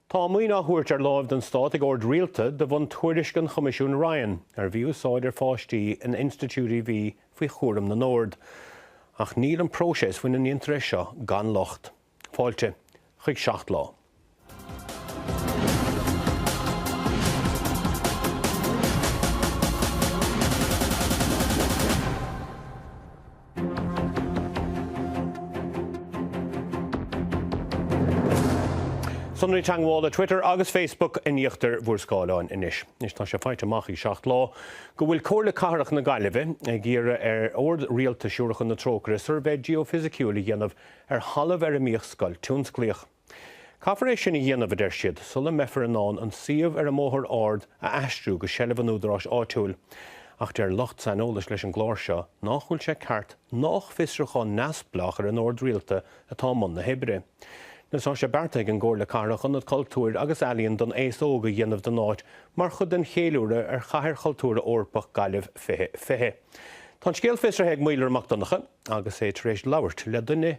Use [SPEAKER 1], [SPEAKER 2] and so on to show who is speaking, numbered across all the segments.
[SPEAKER 1] Tá maoin á thabhairt ar láimh don Stát ag ord rialta de bhun tuairisc an Choimisiúin Ryan ar mhí-úsáid ar pháistí in institiúidí a bhí faoi chúram na nOrd. Ach níl an próiseas faoina ndéantar é seo gan locht. Fáilte chuig Seacht Lá. Sonraí teagmhála Twitter agus Facebook in íochtar bhur scáileáin anois. Anois tá sé faighte amach ag Seacht Lá go bhfuil Comhairle Cathrach na Gaillimhe ag iarraidh ar Ord Rialta Siúracha na Trócaire suirbhé geofisiciúil a dhéanamh ar thalamh ar a mbíodh scoil tionsclaíoch. Caithfear é sin a dhéanamh, a deir siad, sula mbeifear in ann an suíomh ar an mBóthar Ard a aistriú go seilbh an údaráis áitiúil. Ach deir lucht saineolais leis an gclár seo nach bhfuil sé ceart nach fiosrúchán neamhspleách ar an Ord Rialta atá i mbun na hoibre. Anois tá sé beartaithe ag an gComhairle Cathrach ionad cultúir agus ealaíon don aos óg a dhéanamh den áit mar chuid den cheiliúradh ar Chathair Chultúrtha Eorpach Gaillimh 2020. Tá an scéal fiosraithe ag Maolra Mac Donnchadha agus é tar éis labhairt le duine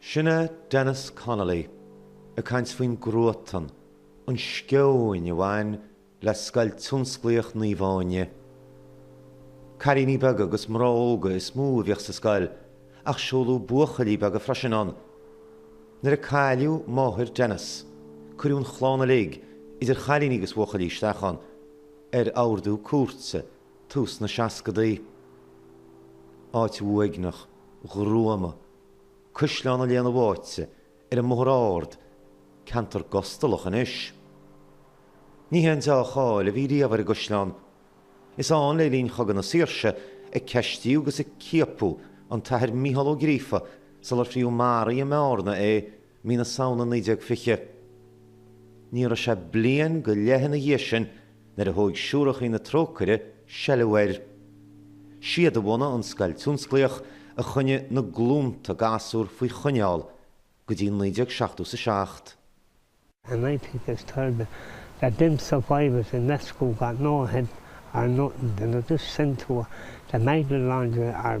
[SPEAKER 2] Sin é Denis Connolly ag caint faoin gcruatan, an sceoin a bhain le Scoil Tionsclaíoch Naomh Áine. Cailíní beaga agus mná óga is mó a bhíodh sa scoil ach seoladh buachaillí beaga freisin ann. Nuair a cailleadh máthair Denis, cuireadh an chlann uilig, idir chailíní agus buachaillí, isteach ann, ar ordú cúirte. tús na seascadaí. Áit uaigneach, ghruama, Caisleán an Léana Bháite ar an mBóthar Ard, ceantar gustalach anois. Ní haon deá-cháil a bhí riamh ar an gcaisleán. Is ann, le linn Chogadh na Saoirse, a ceistíodh agus a ciapadh an tAthair Micheál Ó Gríofa sular fríodh maraithe i mBearna é, mí na Samhna 1920. Ní raibh sé bliain go leith ina dhiaidh sin nuair a thóg Siúrachaí na Trócaire seilbh air. Siad a bhunaigh an scoil tionsclaíoch a choinnigh na glúnta gasúr faoi choinneáil go dtí 1977. And I
[SPEAKER 3] think it's terrible that them survivors in that school got no head or nothing, they were just sent to the Magdalene laundry or.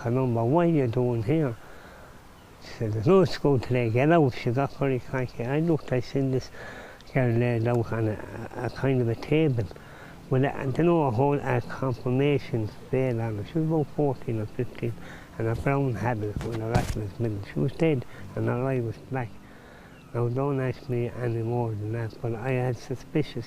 [SPEAKER 3] Canúint ba mhaith dúinn thiar sa Ghnóthachóid le geilleagar sa gcapall ag caint ar oibriúchán agus sin is géar le labhairt ann a kind of a table with a you know a whole a confirmation fail on it, she was about fourteen or fifteen and a brown habit with a rat in its middle, she was dead and her eye was black. Now don't ask me any more than that but I had suspicious.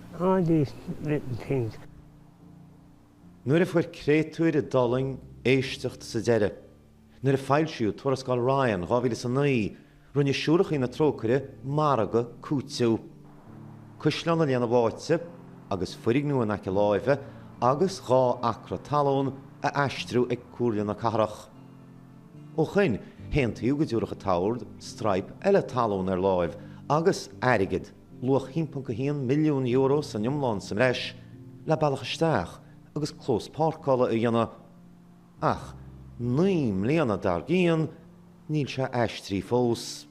[SPEAKER 3] All these little
[SPEAKER 2] things. Nuair a fuair créatúir a d'fhulaing éisteacht sa deireadh, nuair a foilsíodh Tuarascáil Ryan 2009, rinne Siúrachaí na Trócaire margadh cúiteamh. Caisleán an Léana Bháite agus foirgneamh in aice láimhe agus dhá acra talún a aistriú ag Comhairle na Cathrach. Ó shoin, haontaíodh go dtabharfadh an t-ord straidhp eile talún ar láimh agus airgead. luach €1.1 milliún san iomlán sa mbreis le bealach isteach agus clós páirceála a dhéanamh, ach naoi mbliana dar gcionn níl sé aistrithe fós.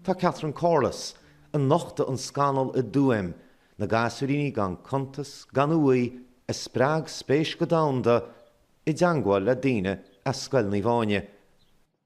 [SPEAKER 2] Tá Catherine Corless, a nochtaigh an scannal i dTuaim, na gasúiríní gan cuntas, gan uaigh, a spreag spéis go domhanda, i dteangmháil le daoine as Scoil Naomh Áine,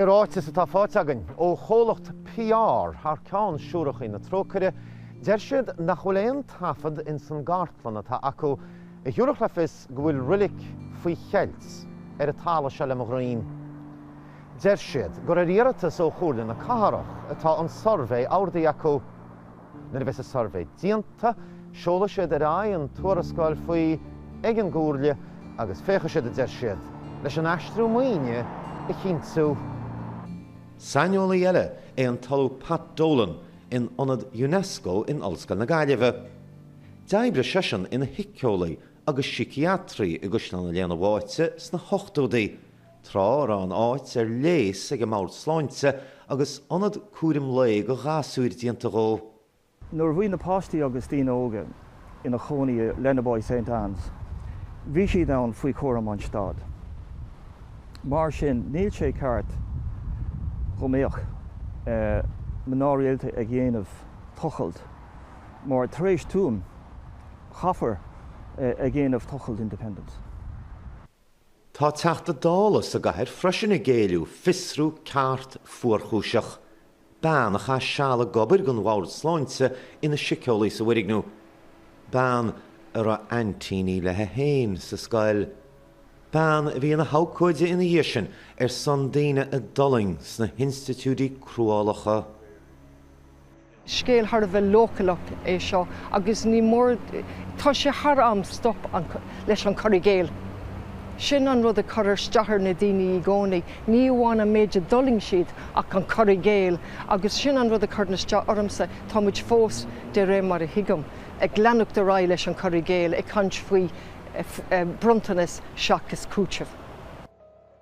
[SPEAKER 2] I ráiteas atá faighte againn ó chomhlacht PR thar ceann Siúracha na Trócaire, deir siad nach bhfuil aon taifead ins an gcartlann atá acu a thiúrfadh le fios go bhfuil roilig faoi cheilt ar an talamh seo le mo dhroim. Deir siad gur ar iarratas ó Chomhairle na Cathrach atá an suirbhé ordaithe acu. Nuair a bheas an suirbhé déanta, seolfaidh siad ar aghaidh an tuarascáil faoi ag an gComhairle agus féachfaidh siad, a deir siad, leis an aistriú maoine a chinntiú. Saineolaí eile é an tOllamh Pat Dolan in Ionad Unesco in Ollscoil na Gaillimhe. D'oibrigh seisean ina shíceolaí agus síciatraí i gCaisleán an Léana Bháite sna hochtóidí Tráth a raibh an áit ar léas ag an mbord sláinte agus ionad cúraim lae do ghasúir déanta dhó, Nuair a bhí na
[SPEAKER 4] páistí agus daoine óga ina chónaí i Lenaboy Saint Anne's, bhí siad ann faoi chúram an Stát. Mar sin, níl sé ceart go mbeadh mná rialta ag dhéanamh tochailt mar tar éis Tuam, chaithfear ag dhéanamh tochailt independence.
[SPEAKER 2] Tá Teachta Dála sa gcathair freisin ag éileamh fiosrú ceart fuarchúiseach. Bean a chaith seal ag obair don Bhord Sláinte ina siceolaí sa bhfoirgniú. Bean a raibh aintíní léi féin sa scoil. Bean a bhí ina habhcóide ina dhiaidh sin ar son daoine a d'fhulaing sna hinstitiúidí cruálacha.
[SPEAKER 5] scéal thar a bheith leochaileach é seo agus ní mór, tá sé thar am stop leis an cur i gcéill. Sin an rud a chuir isteach ar na daoine í gcónaí, ní amháin an méid a d'fhulaing siad ach an cur i gcéill agus sin an rud a chuireann isteach ormsa, tá muid fós, de réir mar a thuigim, ag leanacht ar aghaidh leis an cur i gcéill, ag caint faoi bronntanas seachas cúiteamh.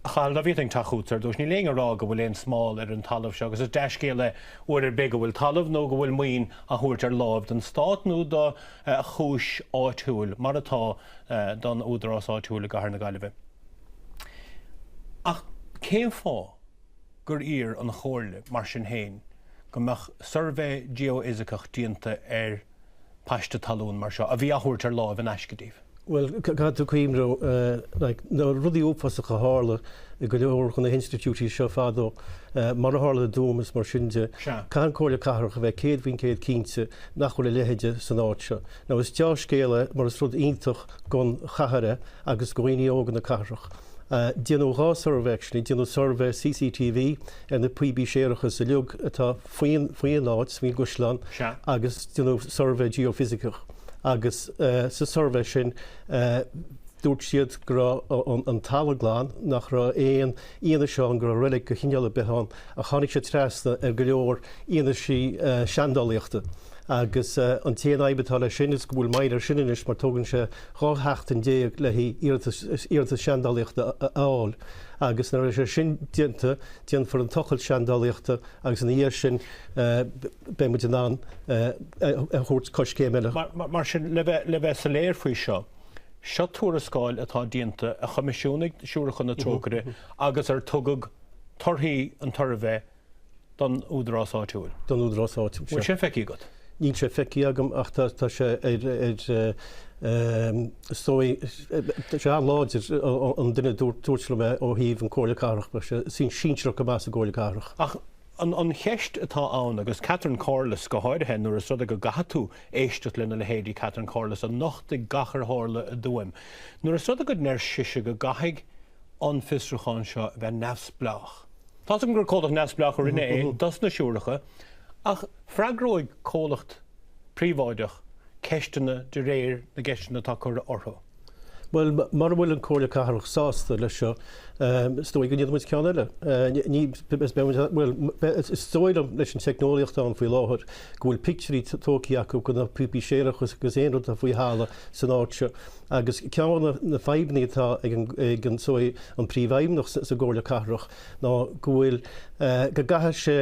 [SPEAKER 1] Chaill David an teach úd, ar dtús. Níl éinne ag rá go bhfuil aon smál ar an talamh seo, agus is dea-scéal é uair ar bith go bhfuil talamh nó go bhfuil maoin á thabhairt ar láimh don stát nó do chúis áitiúil, mar atá, don údarás áitiúil i gcathair na Gaillimhe. Ach cén fáth gur iarr an Chomhairle, mar sin féin, go mbeadh suirbhé geoifisiceach déanta ar an. paiste talún mar seo, a bhí á thabhairt ar láimh in aisce daoibh. Bhuel, caithfidh
[SPEAKER 6] tú cuimhniú like na rudaí uafásacha a tharla i go leor de na hinstitiúidí seo fadó, mar a tharla i dTuaim is mar sin de. Sea. Caithfidh an Chomhairle Cathrach a bheith céad faoin gcéad cinnte nach bhfuil a leithide san áit seo. Now is deá-scéal é mar is rud iontach gon chathair é agus go dhaoine óga na cathrach. Déanadh dhá suirbhé actually, déanadh suirbhé CCTV ar na píopaí séarachais uilig atá, faoin áit, faoin gcaisleán agus déanadh suirbhé geoifisiceach agus sa suirbhé sin dúirt siad go raibh an talamh glan, nach raibh aon fhianaise ann go raibh reilig de chineál ar bith ann ach tháinig siad trasna ar go leor fianaise seandálaíochta agus an t-aon fhadhb atá leis sin is go bhfuil moill air sin anois mar tógann sé 12 seachtain le hiarratas seandálaíochta a fháil agus nuair a bheidh sé sin déanta déanfar an tochailt seandálaíochta agus ina dhiaidh sin beidh muid in ann a thógáil coiscéim eile. Mar sin,
[SPEAKER 1] le bheith soiléir faoi seo, seo tuarascáil atá déanta, a choimisiúnaigh Siúracha na Trócaire agus ar tugadh torthaí an tsuirbhé don údarás áitiúil. An bhfuil
[SPEAKER 6] sé feicthe
[SPEAKER 1] agat?
[SPEAKER 6] níl sé
[SPEAKER 1] feicthe
[SPEAKER 6] agam ach
[SPEAKER 1] tá tá
[SPEAKER 6] sé ar ar ehm is dóigh tá sé an-láidir an duine dúirt dúirt liom é ó thaobh an Comhairle Cathrach mar tá sé sinsearach go maith sa gComhairle Cathrach. Ach an an cheist
[SPEAKER 1] atá ann agus Catherine Corless go háirithe nuair is rud é go gcaithfidh tú éisteacht le leithéidí Catherine Corless a nochtaigh gach ar tharla i dTuaim nuair is rud é go ndeir sise go gcaithfidh an fiosrúchán seo a bheith neamhspleách. Tá's agam gur comhlacht neamhspleách a rinne é dosna siúracha ach Freagróidh comhlacht príobháideach ceisteanna de réir na gceisteanna atá curtha orthu.
[SPEAKER 6] Bhuel, mura bhfuil an Comhairle Cathrach sásta leis seo, is dóigh go ndéanfaidh muid ceann eile. Bhuel, is dóigh liom, leis an teicneolaíocht atá ann faoi láthair, go bhfuil pictiúirí tógtha acu de na píopaí séarachais agus aon rud atá faoi thalamh san áit seo. Agus ceann de na fadhbanna atá ag an an Príomhfheidhmeannach sa gComhairle Cathrach, ná go bhfuil, go gcaithfidh sé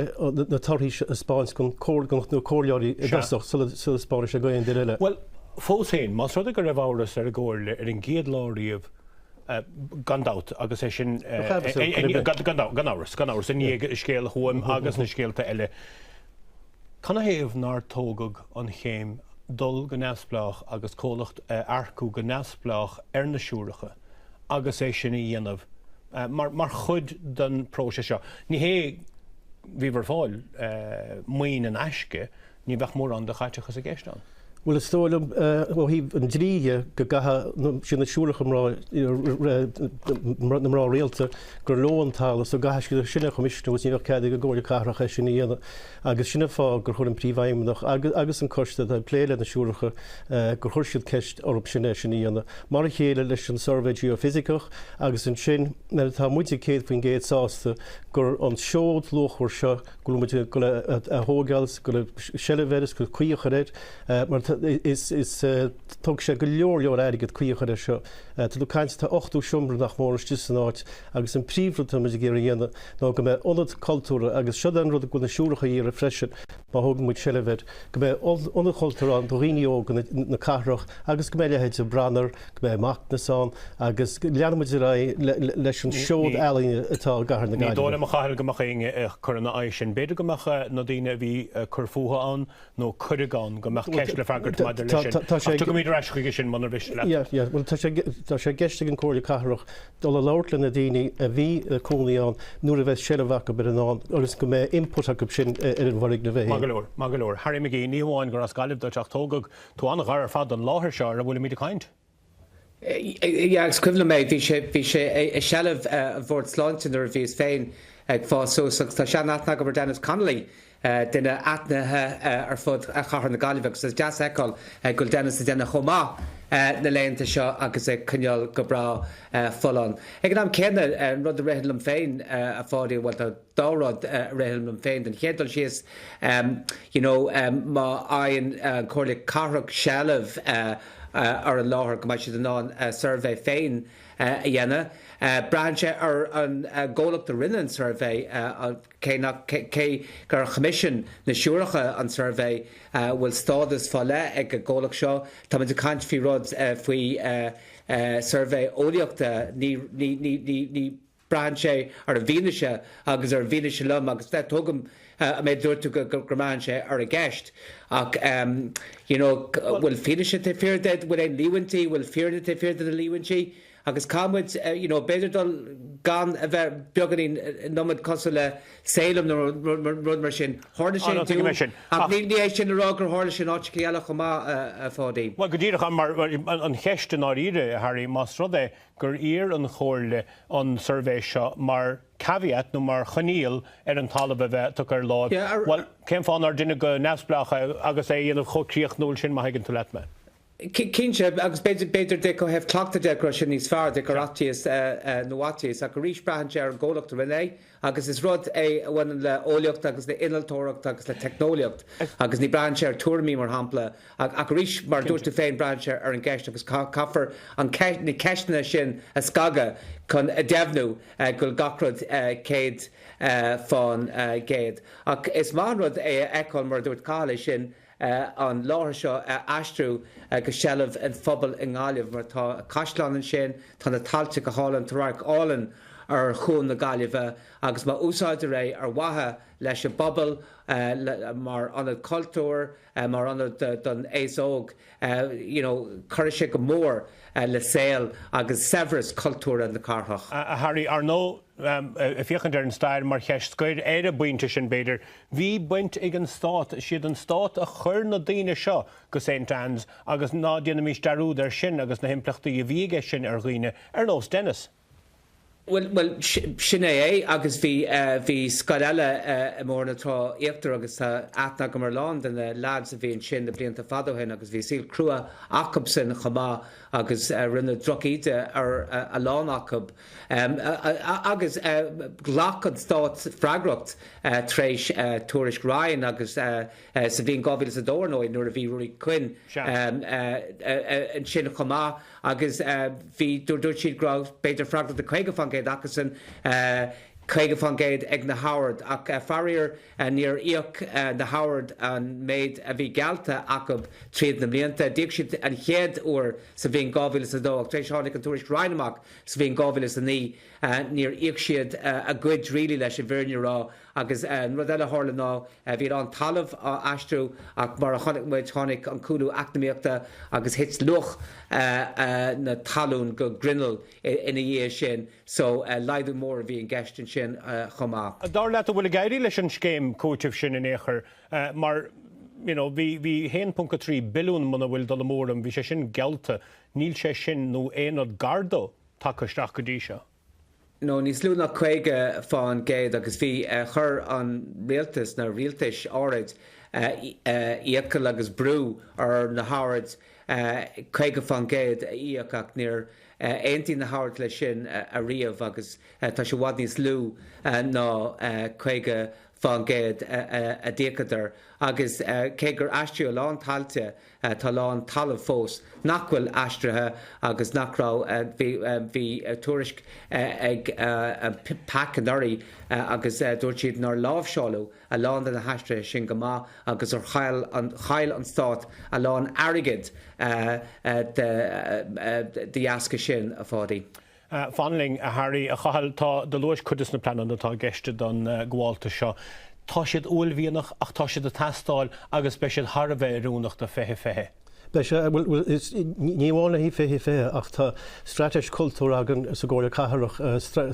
[SPEAKER 6] na torthaí a thaispeáint do na comhairleoirí i dtosach sula dtaispeánfaidh sé d'aon duine eile. Bhuel, fós féin,
[SPEAKER 1] más rud é go raibh amhras ar an gComhairle ar an gcéad lá riamh, gan dabht, agus é sin, gan amhras, gan amhras, i ndiaidh scéal Thuaim agus na scéalta eile, Canathaobh nár tógadh an chéim dul go neamhspleách agus comhlacht a earcú go neamhspleách ar na siúracha agus é sin a dhéanamh mar chuid den próiseas seo? Ní hé, bhíothas ag fáil, maoin in aisce, ní bheadh mórán de chaiteachas i gceist. Bhuel, is
[SPEAKER 6] dóigh liom ó thaobh an dlí dhe go gcaithfidh na, sin na siúracha, na mná rialta gur leo an talamh so go gcaithfidh siad é sin a choimisiúnú agus ní bheadh cead ag an gComhairle Cathrach é sin a dhéanamh agus sin an fáth gur chuir an Príomhfheidhmeannach agus an coiste atá ag plé leis na siúracha gur chuir siad ceist orthu sin é sin a dhéanamh. Mar a chéile leis an Suirbhé Geoifisiceach agus ansin nuair atá muide 100% sásta gur an seod luachmhar seo go bhfuil muid ag dul a thógáil, ag fáil seilbh air is caoi a chur air mar is tógfaidh sé go leor leor airgead caoi a chur air seo. Tá tú ag caint tá 80 seomra nach mór istigh san áit agus an príomhrud tá muid ag iarraidh a dhéanamh ná go mbeidh ionad cultúrtha agus seo é an rud go bhfuil na siúracha ag iarraidh freisin má thógann muid seilbh air. go mbeidh ionad cultúir ann do dhaoine óga na cathrach agus go mbeidh a leithéid de Branar, go mbeidh Macnas ann agus leanfaidh muid ar aghaidh leis an seod ealaíne atá i gcathair na Gaillimhe. Ní dóigh liom, a Chathail, go mbeadh éinne ag
[SPEAKER 1] cur ina aghaidh sin. B'fhéidir go mbeadh na daoine a bhí ag cur fúthu ann nó cuireadh ann, go mbeadh ceist le freagairt maidir leis sin. Ach tiocfaimid ar ais chuige sin muna mhiste leat. Tá sé i gceist ag an gComhairle Cathrach dul a labhairt le na daoine a bhí ina cónaí ann nuair a bheidh seilbh acu air, ann agus go mbeidh input acu sin ar an bhfoirgneamh é féin. Maith go leor, maith go leor. Harry McGee, ní hamháin gur as Gaillimh duit ach tógadh thú an-ghar ar fad don láthair seo ar a bhfuilimid ag
[SPEAKER 7] caint. Yeah, agus is cuimhin liom é, bhí sé, bhí sé i seilbh an Bhord Sláinte nuair a bhíos féin ag fás suas agus tá sean-aithne agam ar Denis Connolly, duine aithnithe ar fud chathair na Gaillimhe agus is deas a fheiceáil go bhfuil Dennis ag déanamh chomh maith na laethanta seo agus ag coinneáil go breá folláin. Ag an am céanna, an rud a ritheann liom féin, a Pháidí, bhuel, tá dhá rud a ritheann liom féin. Den chéad dul síos, you know, má fhaigheann an Chomhairle Cathrach seilbh ar an láthair go mbeidh siad in ann a suirbhé féin a dhéanamh. Braitheann sé ar an gcomhlacht a rinne an suirbhé, an. Cé gur choimisiúnaigh na Siúracha an suirbhé, bhfuil stádas fá leith ag an gcomhlacht seo? Táimid ag caint faoi rud, faoi suirbhé eolaíochta. You know, braitheann sé ar an bhfianaise agus ar an bhfianaise lom agus tógaim an méid a dúirt tú go mbraitheann sé ar an gceist ach you know bhfuil fianaise taobh thiar de, bhfuil aon líomhaintí, bhfuil fírinne taobh thiar de na líomhaintí? Agus caithfidh muid, you know, b'fhéidir dul gan a bheith beagáinín, an iomad cosúil le Salem nó rud mar sin. Tharla sé i dTuaim, ach ní hé sin le rá gur tharla sé in áiteachaí eile chomh maith, a Pháidí. Bhuel, go díreach, mar
[SPEAKER 1] an cheist i ndáiríre, a Harry, más rud é gur iarr an Chomhairle an suirbhé seo mar caveat nó mar choinníoll ar an talamh a bheith tugtha ar láimh, bhuel, cén fáth nár deineadh go neamhspleách é agus é a dhéanamh chomh críochnúil sin, má thuigeann tú leat mé?
[SPEAKER 7] Cinnte, agus b'fhéidir de go raibh cleachtadh de go raibh sé níos fearr de gur fhaitíos nó fhaitíos, ach arís braitheann sé ar an gcomhlacht a rinne é agus is rud é a bhaineann le eolaíocht agus le innealtóireacht agus le teicneolaíocht agus ní braitheann sé ar tuairimí mar shampla ach ach arís mar a dúirt tú féin braitheann sé ar an gceist agus caithfear an na ceisteanna sin a scagadh chun a dheimhniú go bhfuil gach rud 100 fán gcéad ach is maith an rud é a fheiceáil mar a dúirt Cathal ansin an láthair seo a aistriú go seilbh an phobail i nGaillimh mar tá caisleán ansin, tá na tailte go hálainn, tá radharc álainn ar Chuan na Gaillimhe agus má úsáidtear é ar mhaithe leis an bpobal, mar ionad cultúir, mar ionad don aos óg, you know cuirfidh sé go mór le saol agus saibhreas cultúrtha na cathrach. A Harry, ar ndóigh,
[SPEAKER 1] féachaint ar an stair mar cheist scoir ar an bpointe sin b'fhéidir, Bhí baint ag an Stát, is iad an Stát a chuir na daoine seo go St Anne's agus ná déanaimis dearúd air sin agus na himpleachtaí a bhí aige sin ar dhaoine ar nós Dennis. Bhuel,
[SPEAKER 7] sin é é agus bhí, bhí scoil eile i mBóthar na Trá Íochtar agus tá aithne agam ar a lán de na leaids a bhí ansin na blianta fada ó shin agus bhí saol crua acub sin chomh maith agus rinneadh drochíde ar a lán acub. agus ghlac an Stát freagracht tar éis Tuairisc Ryan agus sa bhliain 2002, ar ndóigh, nuair a bhí Ruairí Quinn ansin chomh maith agus bhí, dúirt siad go raibh b'fhéidir freagracht de 50% acusan, 50% ag na hOird. Ach faraor, níor íoc na hOird an méid a bhí geallta acub tríd na mblianta. D'íoc siad an chéad uair sa bhliain 2002 ach tar éis tháinig an Tuairisc Ryan amach, Sa bhliain 2009, níor íoc siad a gcuid really, leis an bhfírinne a rá, agus an rud eile a tharla ná bhí a lán talamh á aistriú ach mar a chonaic muid tháinig an cúlú eacnamaíochta agus thit luach na talún go grinneall ina dhiaidh sin so laghdú mór a bhí i gceist ansin chomh maith. Dar leat an bhfuil
[SPEAKER 1] ag éirí leis an scéim cúitimh sin in aon chor mar you know bhí 1.3 billiún muna bhfuil dul amú orm bhí sé sin geallta Níl sé sin, nó aon rud gar do, tagtha isteach go dtí seo. No, níos
[SPEAKER 7] lú ná 50 fán gcéad, agus bhí, chuir an rialtas, na rialtais áirid, iachall agus brú ar na hOird 50 fán gcéad a íoc, ach níor aontaigh na hOird leis sin ariamh, agus tá sé i bhfad níos lú ná 50 fán gcéad a d'íocadar, agus cé gur aistríodh a lán tailte, Tá a lán talamh fós nach bhfuil aistrithe agus nach raibh, bhí tuairisc ag PAC anuraidh agus dúirt siad nár láimhseáladh a lán de na haistrithe sin go maith agus gur chaill an Stát a lán airgid de dheasca sin, a Pháidí. Fan linn,
[SPEAKER 1] a Harry, a Chathail, tá, do luais cuid des na pleananna atá i gceist don ghabháltas seo. Tá siad uaillmhianach ach tá siad ag teastáil agus beidh siad thar a bheith oiriúnach do 2020. Beidh sé, bhuel is ní
[SPEAKER 6] amháin le haghaidh 2020 ach tá straitéis cultúir againn sa gComhairle Cathrach,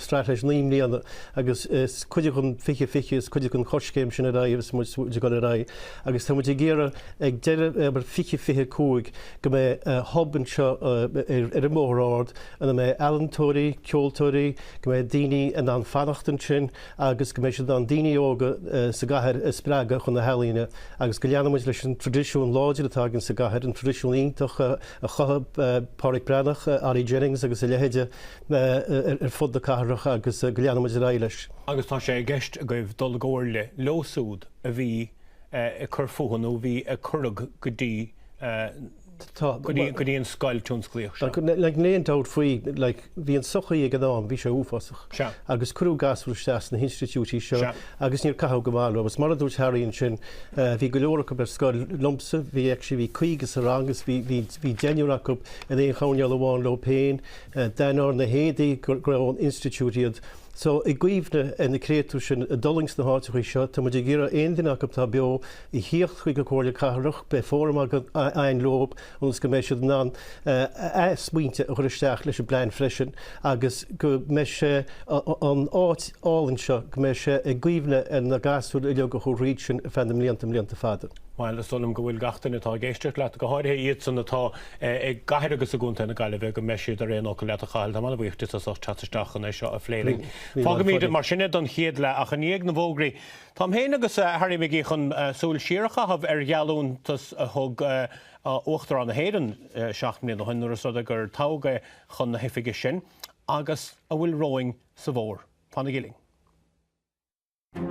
[SPEAKER 6] straitéis naoi mbliana agus is cuid den 2020, is cuid den choiscéim sin ar aghaidh agus muid ag dul ar aghaidh agus tá muid ag iarraidh ag deireadh 2025 go mbeidh hub anseo ar an mBóthar Ard, ina mbeidh ealaíontóirí, ceoltóirí, go mbeidh daoine in ann fanacht ansin agus go mbeidh siad in ann daoine óga sa gcathair a spreagadh chun na healaíne agus go leanfaidh muid leis an traidisiún láidir atá againn sa gcathair, an traidisiún iontach a chothaigh Páraic Breathnach, Ollie Jennings agus a leithéide ar fud na cathrach agus go leanfaidh muid ar aghaidh leis. Agus tá sé i
[SPEAKER 1] gceist agaibh dul i gcomhairle leo siúd a bhí ag cur fúthu nó a bhí, a cuireadh go dtí go dtí an scoil tionsclaíoch seo. Like, níl aon
[SPEAKER 6] dabht faoi, like, bhí an sochaí ag an am, bhí sé uafásach. Sea. Agus cuireadh gasúir isteach sna hinstitiúidí seo. Sea. Agus níor caitheadh go maith leo. Agus mar a dúirt Harry ansin, eh, bhí go leor acu ar scoil liomsa, bhí actually, bhí caoga sa rang agus bhí, bhí, bhí deichniúr acu in aon choirnéal amháin leo féin. Eh, d'aithneofá ar na héadaí go, gurbh ón institiúid iad. So, i gcuimhne ar na créatúir sin a d'fhulaing sna háiteachaí seo, tá muid ag iarraidh aon duine acu atá beo, a theacht chuig an gComhairle Cathrach, beidh fóram againn leo ionas go mbeidh siad in ann a smaointe a chur isteach leis an bplean freisin agus go mbeidh sé, an áit álainn seo, go mbeidh sé i gcuimhne ar na gasúir uilig a chuaigh tríd sin ar feadh na mblianta mblianta fada. Bhuel, is dóigh liom go
[SPEAKER 1] bhfuil gach duine atá ag éisteacht leat, go háirithe iadsan atá i gcathair agus i gcontae na Gaillimhe, go mbeidh siad ar aon fhocal leat, a Chathail. Táim an-bhuíoch díot as ucht teacht isteach chun é seo a phlé linn. Fágfaimid mar sin é don chéad leath, ach i ndiaidh na bhfógraí, Táim féin agus Harry McGee chun súil siar a chaitheamh ar gheallúntas a thug Uachtarán na hÉireann seacht mbliana ó shin, nuair is rud é gur toghadh é chun na hoifige sin, agus a bhfuil romhainn sa bhfómhar. Fanaigí linn.